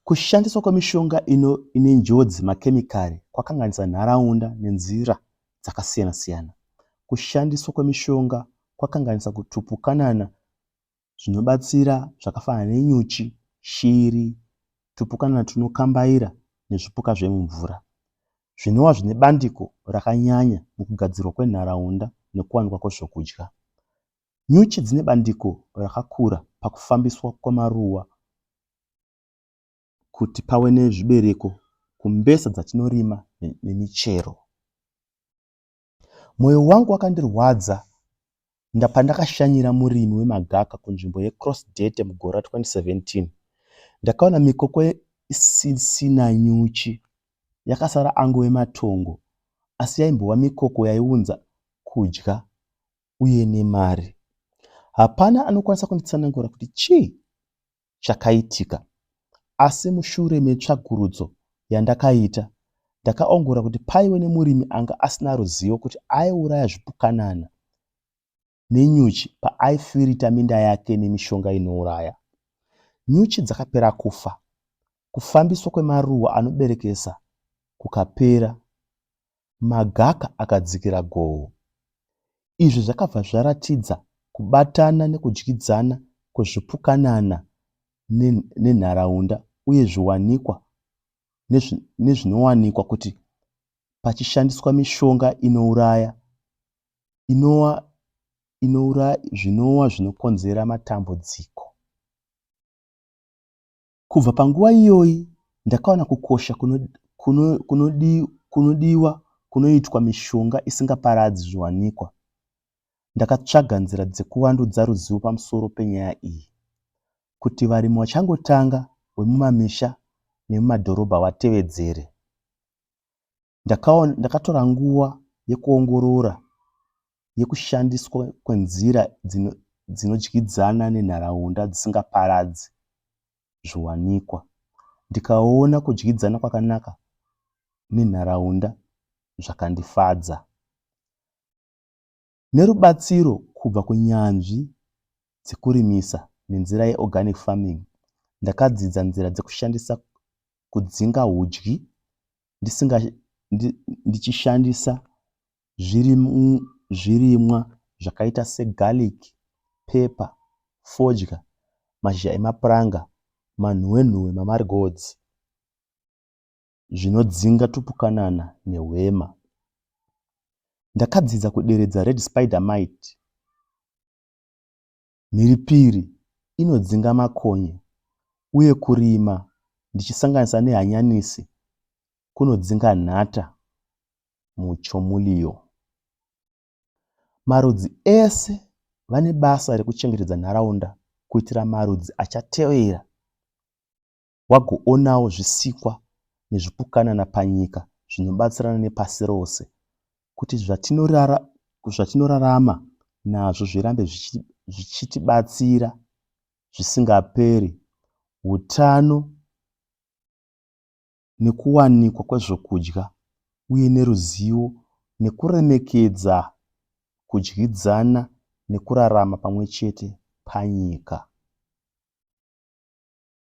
Kushandiswa kwemishonga ine njodzi, makemikari, kwakanganisa nharaunda nenzira dzakasiyana-siyana. Kushandiswa kwemishonga kwakanganisa tupukanana zvinobatsira zvakafanana nenyuchi, shiri, tupukanana tunokambaira nezvipuka zvemumvura zvinova zvine bandiko rakanyanya mukugadzirwa kwenharaunda nekuwanikwa kwezvokudya. Nyuchi dzine bandiko rakakura pakufambiswa kwemaruva kuti pave nezvibereko kumbesa dzatinorima nemichero. Moyo wangu wakandirwadza pandakashanyira murimi wemagaka kunzvimbo yeCross Date mugore ra 2017. Ndakaona mikoko isisina nyuchi yakasara angove matongo asi yaimbova mikoko yaiunza kudya uye nemari. Hapana anokwanisa kunditsanangura kuti chii chakaitika, asi mushure metsvagurudzo yandakaita, ndakaongorora kuti paive nemurimi anga asina ruzivo kuti aiuraya zvipukanana nenyuchi paaifirita minda yake nemishonga inouraya. Nyuchi dzakapera kufa, kufambiswa kwemaruwa anoberekesa kukapera, magaka akadzikira goho. Izvi zvakabva zvaratidza kubatana nekudyidzana kwezvipukanana nenharaunda uye zviwanikwa nezvinowanikwa kuti pachishandiswa mishonga inouraya inova zvinova zvinokonzera matambudziko. Kubva panguva iyoyi ndakawana kukosha kunodiwa kunoitwa mishonga isingaparadzi zviwanikwa. Ndakatsvaga nzira dzekuvandudza ruzivo pamusoro penyaya iyi kuti varimi vachangotanga vemumamisha nemumadhorobha vatevedzere. Ndakaona, ndakatora nguva yekuongorora yekushandiswa kwenzira dzino, dzinodyidzana nenharaunda dzisingaparadzi zviwanikwa. Ndikaona kudyidzana kwakanaka nenharaunda zvakandifadza. Nerubatsiro kubva kunyanzvi dzekurimisa nenzira yeorganic farming, ndakadzidza nzira dzekushandisa kudzinga hudyi ndisinga ndichishandisa zvirimwa zvakaita segarlic, pepper, fodya, mashizha emapuranga, manhuwenhuwe, mamarigotsi. zvinodzinga tupukanana nehwema. Ndakadzidza kuderedza red spider mite, mhiripiri inodzinga makonye uye kurima ndichisanganisa nehanyanisi kunodzinga nhata muChomulio. Marudzi ese vane basa rekuchengetedza nharaunda kuitira marudzi achatevera. wagoonawo zvisikwa nezvipukanana panyika zvinobatsirana nepasi rose kuti zvatinorarama nazvo zvirambe zvichitibatsira zvisingaperi, utano nekuwanikwa kwezvokudya uye neruzivo nekuremekedza kudyidzana nekurarama pamwe chete panyika.